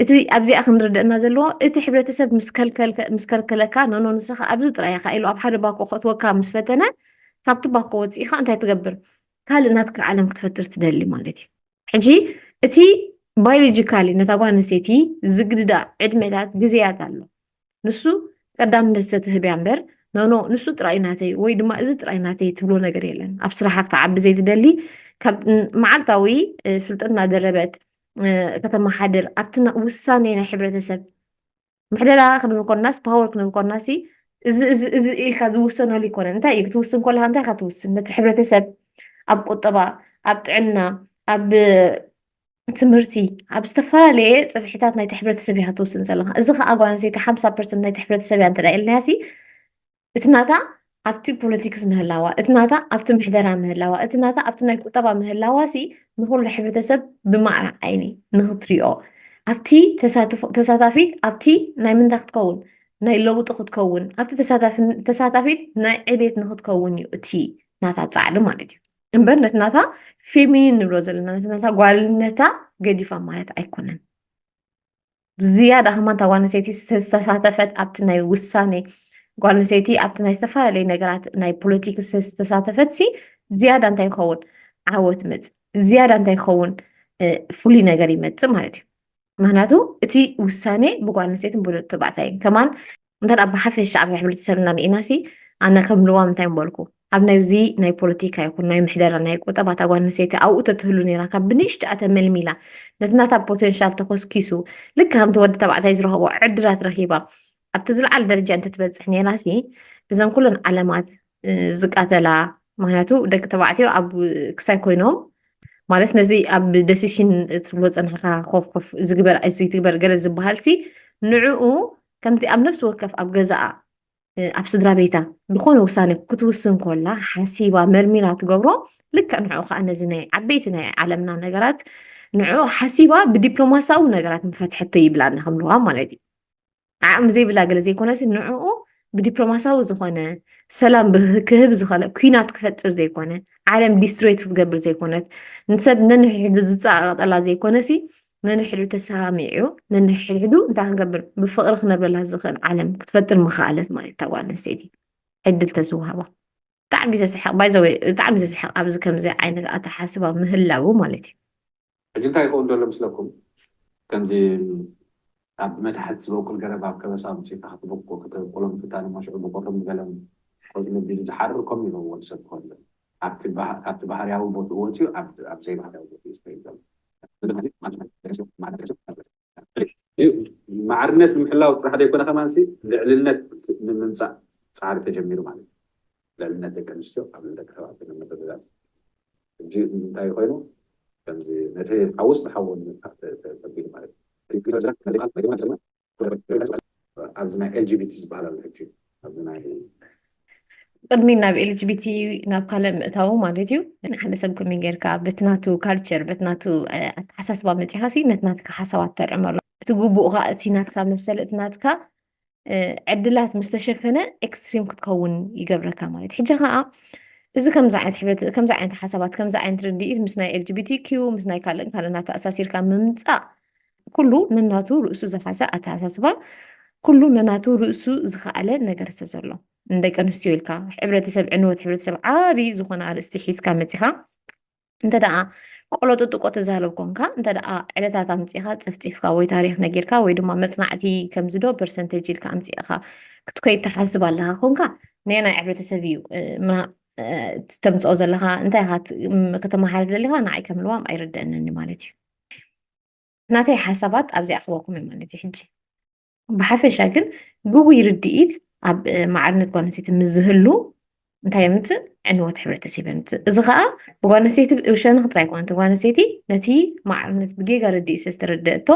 እቲ ኣብዚኣ ክንርደእና ዘለዎ እቲ ሕብረተሰብ ምስ ከልከለካ ኖኖ ንስኻ ኣብዚ ጥራይ ኢኻ ኢሉ ኣብ ሓደ ባኮ ከእትወካ ምስ ፈተነ ካብቲ ባኮ ወፂእኻ እንታይ ትገብር ካልእ ናትካ ዓለም ክትፈጥር ትደሊ ማለት እዩ ሕጂ እቲ ባዮሎጂካሊ ነታ ጓል ኣንስተይቲ ዝግድዳ ዕድመታት ግዜያት ኣሎ ንሱ ቀዳምነት ሰትህብ እያ እምበር ኖኖ ንሱ ጥራይ ናተይ ወይ ድማ እዚ ጥራይ ናተይ ትብሎ ነገር የለን ኣብ ስራሓ ክትዓቢ ዘይትደሊ ካብ መዓልታዊ ፍልጠት እናደረበት ከተመሓድር ኣብቲ ውሳኔ ናይ ሕብረተሰብ ምሕደራ ክንብል ኮናስ ፓወር ክንብል ኮናሲ እዚ እዚ እዚ ኢልካ ዝውሰነሉ ይኮነ እንታይ እዩ ክትውስን ከለካ እንታይ ካ ትውስን ነቲ ሕብረተሰብ ኣብ ቁጠባ ኣብ ጥዕና ኣብ ትምህርቲ ኣብ ዝተፈላለየ ፅፍሒታት ናይቲ ሕብረተሰብ እያ ትውስን ዘለካ እዚ ከዓ ጓል ኣንስተይቲ ሓምሳ ፐርሰንት ናይቲ ሕብረተሰብ እያ እንተዳ ኢልና ሲ እቲ ናታ ኣብቲ ፖለቲክስ ምህላዋ እቲ ናታ ኣብቲ ምሕደራ ምህላዋ እቲ ናታ ኣብቲ ናይ ቁጠባ ምህላዋ ሲ ንኩሉ ሕብረተሰብ ብማዕረ ዓይኒ ንክትሪኦ ኣብቲ ተሳታፊት ኣብቲ ናይ ምንታይ ክትከውን ናይ ለውጢ ክትከውን ኣብቲ ተሳታፊት ናይ ዕቤት ንክትከውን እዩ እቲ ናታ ፃዕሪ ማለት እዩ እምበር ነቲ ናታ ፌሚኒን ንብሎ ዘለና ነቲ ናታ ጓልነታ ገዲፋ ማለት ኣይኮነን ዝያዳ ከማ እታ ጓል ኣንስተይቲ ዝተሳተፈት ኣብቲ ናይ ውሳኔ ጓል ኣንስተይቲ ኣብቲ ናይ ዝተፈላለዩ ነገራት ናይ ፖለቲክስ ዝተሳተፈት ሲ ዝያዳ እንታይ ይኸውን ዓወት መፅ ዝያዳ እንታይ ይኸውን ፍሉይ ነገር ይመፅእ ማለት እዩ ምክንያቱ እቲ ውሳኔ ብጓል ኣንስተይትን ብወዲ ተባዕታይን ከማን እንተ ብሓፈሻ ኣብ ሕብረተሰብና ርኢና ሲ ኣነ ከም ልዋም እንታይ ምበልኩ ኣብ ናይዚ ናይ ፖለቲካ ይኹን ናይ ምሕደራ ናይ ቁጠባ እታ ጓል ኣንስተይቲ ኣብኡ ተትህሉ ነራ ካብ ብንእሽትኣ ተመልሚላ ነቲ ናታ ፖቴንሻል ተኮስኪሱ ልክ ከምቲ ወዲ ተባዕታይ ዝረኸቦ ዕድላት ረኪባ ኣብቲ ዝለዓለ ደረጃ እንትትበፅሕ ነይራ ሲ እዘን ኩለን ዓለማት ዝቃተላ ምክንያቱ ደቂ ተባዕትዮ ኣብ ክሳይ ኮይኖም ማለት ነዚ ኣብ ደሲሽን እትብሎ ፀንሕካ ኮፍ ኮፍ ዝግበር ዝትግበር ገለ ዝበሃል ሲ ንዕኡ ከምቲ ኣብ ነፍሲ ወከፍ ኣብ ገዛኣ ኣብ ስድራ ቤታ ዝኾነ ውሳኔ ክትውስን ኮላ ሓሲባ መርሚራ ትገብሮ ልክዕ ንዕኡ ከዓ ነዚ ናይ ዓበይቲ ናይ ዓለምና ነገራት ንዕኡ ሓሲባ ብዲፕሎማሲያዊ ነገራት ምፈትሐቶ ይብላና ከምለዋ ማለት እዩ ዓቕሚ ዘይብላ ገለ ዘይኮነሲ ንዕኡ ብዲፕሎማሲያዊ ዝኾነ ሰላም ክህብ ዝኸለ ኩናት ክፈጥር ዘይኮነ ዓለም ዲስትሮይት ክትገብር ዘይኮነት ንሰብ ነንሕሕዱ ዝፀቃቐጠላ ዘይኮነሲ ነንሕሕዱ ተሰማሚዑ ነንሕሕዱ እንታይ ክንገብር ብፍቕሪ ክነብረላ ዝኽእል ዓለም ክትፈጥር ምኽኣለት ማለት እታ ጓል ኣንስተይቲ ዕድል ተዝወሃባ ብጣዕሚ ዘስሕቕ ባይዘወ ብጣዕሚ ዘስሕቕ ኣብዚ ከምዚ ዓይነት ኣተሓስባ ምህላው ማለት እዩ ሕጂ እንታይ ይኸውን
ዘሎ ምስለኩም ከምዚ ኣብ መታሕት ዝበቁል ገረብ ኣብ ከበሳ ኣምጺእካ ክትብቁ ክትብቁሎ ምፍታን እሞ ሽዑ ብቁርም ገለም ቆጽሊ ኣቢሉ ዝሓርር ከምኡ እዩ ነብ ወድ ሰብ ክኾን ዘሎ ኣብቲ ካብቲ ባህርያዊ ቦትኡ ወጺኡ ኣብ ኣብ ዘይባህርያዊ ቦትኡ እዩ ስለ ዘሎ። ማዕርነት ንምሕላው ጥራሕ ዘይኮነ ከማንሲ ልዕልነት ንምምፃእ ፃዕሪ ተጀሚሩ ማለት እዩ። ልዕልነት ደቂ ኣንስትዮ ኣብ ልዕሊ ደቂ ተባዕትዮ ንምርግጋፅ ሕጂ እንታይ ኮይኑ ከምዚ ነቲ ሓውስ ብሓው ንምግታእ ተቢሉ ማለት እዩ። ኣብዚ ናይ ኤልጂቢቲ ዝበሃል ኣሎ ሕጂ ኣብዚ ናይ ቅድሚ ናብ ኤልጂቢቲ ናብ ካልእ ምእታዉ ማለት እዩ ንሓደ ሰብ ከመይ ጌርካ በቲ ናቱ ካልቸር በቲ ናቱ ኣተሓሳስባ መፂኻ ሲ ነቲ ናትካ ሓሳባት ተርዕመሉ እቲ ግቡእ ከዓ እቲ ናትካ መሰል እቲ ናትካ ዕድላት ምስ ተሸፈነ ኤክስትሪም ክትከውን ይገብረካ ማለት ሕጂ ከዓ እዚ ከምዚ ዓይነት ሕብረት ከምዚ ዓይነት ሓሳባት ከምዚ ዓይነት ርድኢት ምስ ናይ ኤልጂቢቲ ኪዩ ምስ ናይ ካልእን ካልእን ኣተኣሳሲርካ ምምፃእ ኩሉ ነናቱ ርእሱ ዝኻሰ ኣተሓሳስባ ኩሉ ነናቱ ርእሱ ዝኸኣለ ነገር ዝተዘሎ ንደቂ ኣንስትዮ ኢልካ ሕብረተሰብ ዕንወት ሕብረተሰብ ዓብዪ ዝኾነ ኣርእስቲ ሒዝካ መፂኻ እንተ ደኣ ቆሎጦ ጥቆ ተዛረብ ኮንካ እንተ ደኣ ዕለታት ኣምፂኻ ፀፍፂፍካ ወይ ታሪክ ነጊርካ ወይ ድማ መፅናዕቲ ከምዚዶ ፐርሰንቴጅ ኢልካ ኣምፂእኻ ክትከይድ ትሓስብ ኣለኻ ኮንካ ነየናይ ሕብረተሰብ እዩ ተምፅኦ ዘለኻ እንታይ ከተመሓልፍ ደሊኻ ንዓይ ከም ልዋም ኣይርደአንን ማለት እዩ ናተይ ሓሳባት ኣብዚኣ ክበኩም እየ ማለት እዩ ሕጂ ብሓፈሻ ግን ግጉይ ርድኢት ኣብ ማዕርነት ጓል ኣንስተይቲ ምስ ዝህሉ እንታይ
የምፅእ ዕንወት ሕብረተሰብ የምፅእ እዚ ከዓ ብጓል ኣንስተይቲ ሸነኽ ጥራይ ኣይኮነት ጓል ኣንስተይቲ ነቲ ማዕርነት ብጌጋ ርድኢት ዝተረደእቶ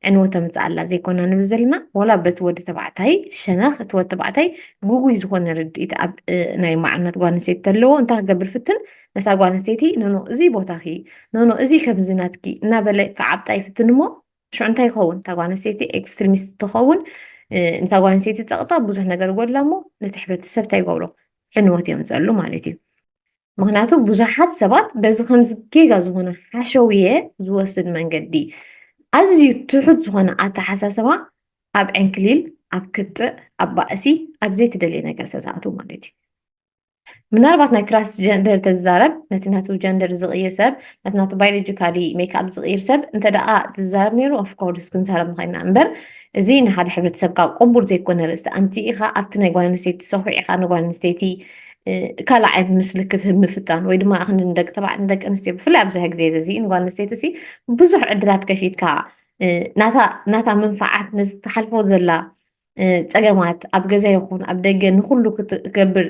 ዕንወት ተምፅእ ኣላ ዘይኮና ንብል ዘለና ወላ በቲ ወዲ ተባዕታይ ሸነኽ እቲ ወዲ ተባዕታይ ግጉይ ዝኾነ ርድኢት ኣብ ናይ ማዕርነት ጓል ኣንስተይቲ ተለዎ እንታይ ክገብር ፍትን ነታ ጓል ኣንስተይቲ ኖኖ እዚ ቦታኺ ኖኖ እዚ ከምዚ ናትኪ እናበለ ክዓብጣ ይፍትን እሞ ሽዑ እንታይ ይኸውን እታ ጓል ኣንስተይቲ ኤክስትሪሚስት ትኸውን ንታ ጓል ኣንስተይቲ ፀቕጣ ብዙሕ ነገር ይጎድላ እሞ ነቲ ሕብረተሰብ እንታይ ይገብሮ ዕንወት እዮም ዘሉ ማለት እዩ ምክንያቱ ብዙሓት ሰባት በዚ ከምዚ ጌጋ ዝኾነ ሓሸውየ ዝወስድ መንገዲ ኣዝዩ ትሑት ዝኾነ ኣተሓሳስባ ኣብ ዕንክሊል ኣብ ክትዕ ኣብ ባእሲ ኣብ ዘይትደልየ ነገር ዝተዛእቱ ማለት እዩ ምናልባት ናይ ትራንስጀንደር ተዛረብ ነቲ ናቱ ጀንደር ዝቕይር ሰብ ነቲ ናቱ ባዮሎጂካሊ ሜክኣፕ ዝቕይር ሰብ እንተ ደኣ ዝዛረብ ነይሩ ኦፍኮርስ ክንዛረብ ንኸይና እምበር እዚ ንሓደ ሕብረተሰብ ካብ ቅቡል ዘይኮነ ርእስቲ ኣንቲ ኢኻ ኣብቲ ናይ ጓል ኣንስተይቲ ሰኹዕ ኢኻ ንጓል ኣንስተይቲ ካልእ ዓይነት ምስሊ ክትህብ ምፍታን ወይ ድማ እኽኒ ንደቂ ተባዕት ንደቂ ኣንስትዮ ብፍላይ ኣብዚ ግዜ እዚ ንጓል ኣንስተይቲ ሲ ብዙሕ ዕድላት ከፊትካ ናታ መንፋዓት ነዚ ትሓልፎ ዘላ ፀገማት ኣብ ገዛ ይኹን ኣብ ደገ ንኩሉ ክትገብር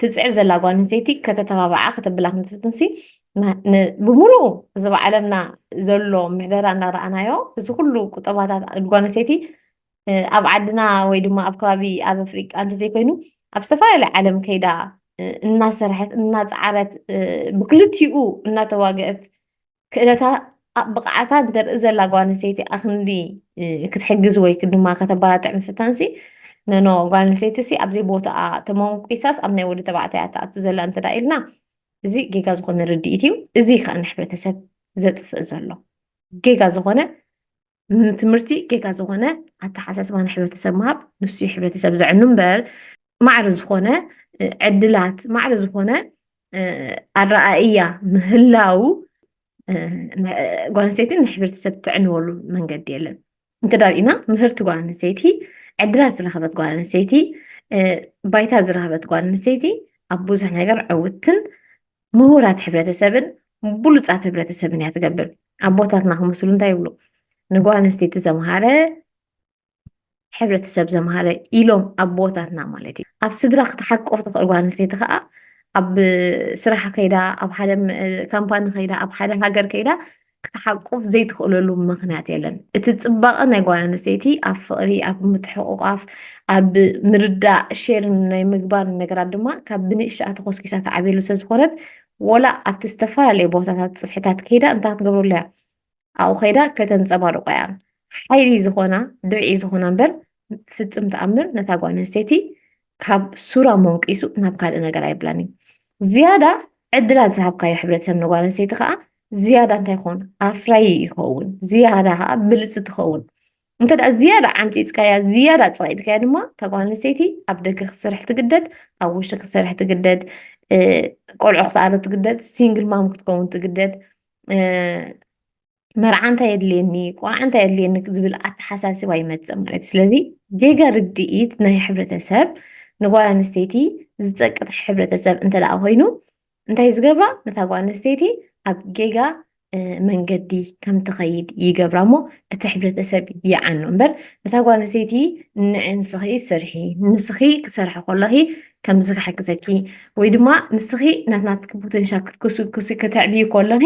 ትፅዕር ዘላ ጓል ኣንስተይቲ ከተተባብዓ ከተብላ ክንትፍትንሲ ብምሉኡ እዚ ብዓለምና ዘሎ ምሕደራ እናረኣናዮ እዚ ኩሉ ቁጠባታት ጓል ኣንስተይቲ ኣብ ዓድና ወይ ድማ ኣብ ከባቢ ኣብ ኣፍሪቃ እንተዘይኮይኑ ኣብ ዝተፈላለዩ ዓለም ከይዳ እናሰርሐት እናፀዓረት ብክልቲኡ እናተዋገአት ክእለታ ብቕዓታ ንተርኢ ዘላ ጓል ኣንስተይቲ ኣክንዲ ክትሕግዝ ወይ ድማ ከተበራትዕ ምፍታንሲ ነኖ ጓል ኣንስተይቲ ሲ ኣብዘይ ቦታኣ ተመንቂሳስ ኣብ ናይ ወዲ ተባዕታይ እያ ትኣቱ ዘላ እንተ ኢልና እዚ ጌጋ ዝኾነ ርድኢት እዩ እዚ ከዓ ንሕብረተሰብ ዘጥፍእ ዘሎ ጌጋ ዝኾነ ንትምህርቲ ጌጋ ዝኾነ ኣተሓሳስባ ንሕብረተሰብ ምሃብ ንሱ እዩ ሕብረተሰብ ዘዕኑ እምበር ማዕረ ዝኾነ ዕድላት ማዕረ ዝኾነ ኣረኣእያ ምህላው ጓል ኣንስተይቲ ንሕብረተሰብ ትዕንወሉ መንገዲ የለን እንተ ዳሪእና ምህርቲ ጓል ኣንስተይቲ ዕድላት ዝረኸበት ጓል ኣንስተይቲ ባይታ ዝረኸበት ጓል ኣንስተይቲ ኣብ ብዙሕ ነገር ዕውትን ምሁራት ሕብረተሰብን ብሉፃት ሕብረተሰብን እያ ትገብር ኣቦታትና ክመስሉ እንታይ ይብሉ ንጓል ኣንስተይቲ ዘምሃረ ሕብረተሰብ ዘምሃረ ኢሎም ኣቦታትና ማለት እዩ ኣብ ስድራ ክትሓቆፍ ትኽእል ጓል ኣንስተይቲ ከዓ ኣብ ስራሕ ከይዳ ኣብ ሓደ ካምፓኒ ከይዳ ኣብ ሓደ ሃገር ከይዳ ክትሓቁፍ ዘይትኽእለሉ ምኽንያት የለን። እቲ ፅባቐ ናይ ጓል ኣንስተይቲ ኣብ ፍቕሪ፣ ኣብ ምትሕቑቋፍ፣ ኣብ ምርዳእ፣ ሼር ናይ ምግባር ነገራት ድማ ካብ ብንእሽተኣ ተኾስኪሳ ተዓብየሉ ስለዝኾነት ወላ ኣብቲ ዝተፈላለዩ ቦታታት ፅፍሕታት ከይዳ እንታይ ክትገብረሉ እያ ኣብኡ ከይዳ ከተንፀባርቆ እያ ሓይሊ ዝኾና ድርዒ ዝኾና እምበር ፍፅም ተኣምር ነታ ጓል ኣንስተይቲ ካብ ሱራ ሞንቂሱ ናብ ካልእ ነገር ኣይብላን እዩ ዝያዳ ዕድላት ዝሃብካዮ ሕብረተሰብ ንጓል ኣንስተይቲ ከዓ ዝያዳ እንታይ ይኸውን ኣፍራይ ይኸውን ዝያዳ ከዓ ብልፂ ትኸውን እንተ ደኣ ዝያዳ ዓምፂፅካያ ዝያዳ ፀቂጥካያ ድማ እታ ጓል ኣንስተይቲ ኣብ ደገ ክትሰርሕ ትግደድ ኣብ ውሽጢ ክትሰርሕ ትግደድ ቆልዑ ክትኣለ ትግደድ ሲንግል ማም ክትከውን ትግደድ መርዓ እንታይ የድልየኒ ቆርዓ እንታይ የድልየኒ ዝብል ኣተሓሳስባ ይመፅእ ማለት እዩ ስለዚ ጌጋ ርድኢት ናይ ሕብረተሰብ ንጓል ኣንስተይቲ ዝፀቅጥ ሕብረተሰብ እንተደኣ ኮይኑ እንታይ ዝገብራ ነታ ጓል ኣንስተይቲ ኣብ ጌጋ መንገዲ ከም ትኸይድ ይገብራ እሞ እቲ ሕብረተሰብ ይዓኑ እምበር ነታ ጓል ኣንስተይቲ ንዕንስኺ ስርሒ ንስኺ ክትሰርሒ ከለኺ ከምዚ ክሕግዘኪ ወይ ድማ ንስኺ ናትናትኪ ፖተንሻል ክትኩስኩሲ ከተዕብዩ ከሎኺ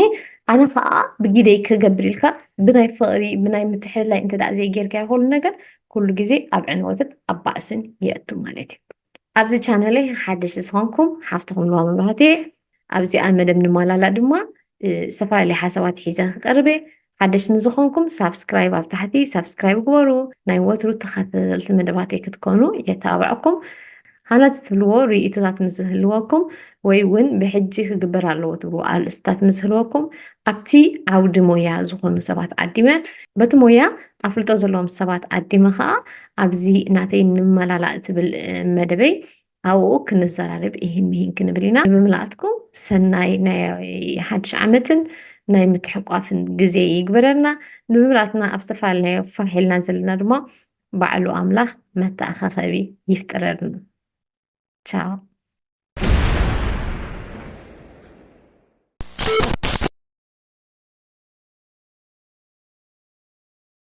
ኣነ ከዓ ብጊደይ ክገብር ኢልካ ብናይ ፍቕሪ ብናይ ምትሕልላይ እንተ ዘይጌርካዮ ኩሉ ነገር ኩሉ ግዜ ኣብ ዕንወትን ኣብ ባእስን የእቱ ማለት እዩ ኣብዚ ቻነለይ ሓደሽ ዝኾንኩም ሓፍትኹም ንዋም መብራህት እየ ኣብዚኣ መደብ ንማላላ ድማ ዝተፈላለየ ሓሳባት ሒዘ ክቀርብ እየ ሓደሽቲ ንዝኾንኩም ሳብስክራይብ ኣብ ታሕቲ ሳብስክራይብ ግበሩ ናይ ወትሩ ተኸታተልቲ መደባተይ ክትኮኑ የተባብዐኩም ሃናጽ ትብልዎ ርእይቶታት ምስ ዝህልወኩም ወይ እውን ብሕጂ ክግበር ኣለዎ ትብልዎ ኣርእስታት ምስ ዝህልወኩም ኣብቲ ዓውዲ ሞያ ዝኾኑ ሰባት ዓዲመ በቲ ሞያ ኣፍልጦ ዘለዎም ሰባት ዓዲመ ከዓ ኣብዚ ናተይ ንመላላእ ትብል መደበይ ኣብኡ ክንዘራረብ ኢሂን ምሂን ክንብል ኢና። ንምልኣትኩም ሰናይ ናይ ሓድሽ ዓመትን ናይ ምትሕቋፍን ግዜ ይግበረልና። ንምልኣትና ኣብ ዝተፈላለዩ ፋሕ ኢልና ዘለና ድማ ባዕሉ ኣምላኽ መተኣኻኸቢ ይፍጠረልና። ቻው።